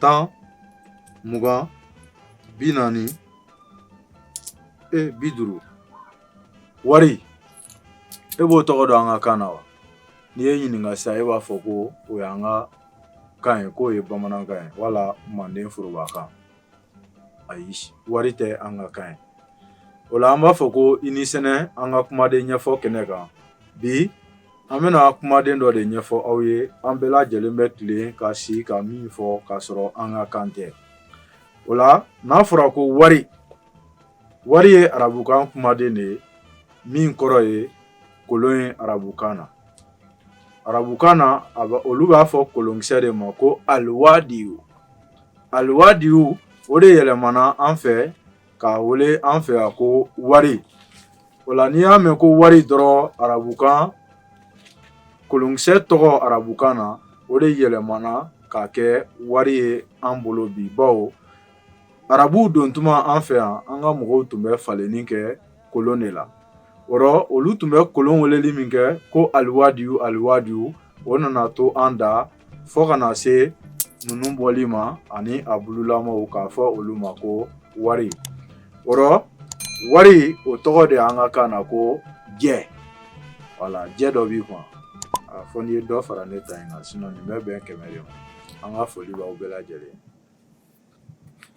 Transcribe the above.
tan mugan bi naani e bi duuru wari e b'o tɔgɔ dɔn an ka kan na wa ni n y'e ɲininka sisan e b'a fɔ ko o y'an ka kan ye k'o ye bamanankan ye wala manden foroba kan ayi wari tɛ an ka kan ye o la an b'a fɔ ko i ni sɛnɛ an ka kumaden ɲɛfɔ kɛnɛ kan bi an bɛna kumaden dɔ de ɲɛfɔ aw ye an bɛɛ lajɛlen bɛ tilen ka si ka min fɔ k'a sɔrɔ an ka kan tɛ o la n'a fɔra ko wari wari ye arabukan kumaden de ye min kɔrɔ ye kolon ye arabukan na arabukan na a olu b'a fɔ kolonkisɛ de ma ko aliwadiyu Aliwadiyu o de yɛlɛmana an fɛ k'a wele an fɛ yan ko wari o la n'i y'a mɛn ko wari dɔrɔn arabukan kolonkisɛ tɔgɔ arabukan na o de yɛlɛmana k'a kɛ wari ye an bolo bi bawo arabuw don tuma an fɛ yan an ka mɔgɔw tun bɛ falenni kɛ kolon de la o rɔ olu tun bɛ kolon weleli min kɛ ko aliwadiyu aliwadiyu o nana to an da fo ka na se ninnu bɔli ma ani a bululamaw k'a fɔ olu ma ko wari o rɔ wari o tɔgɔ de an ka kan na ko jɛ wala jɛ dɔ b'i kun a fɔ n'i ye dɔ fara ne ta in kan sinɔn nin bɛ bɛn kɛmɛ de ma an ka foli b'aw bɛɛ lajɛlen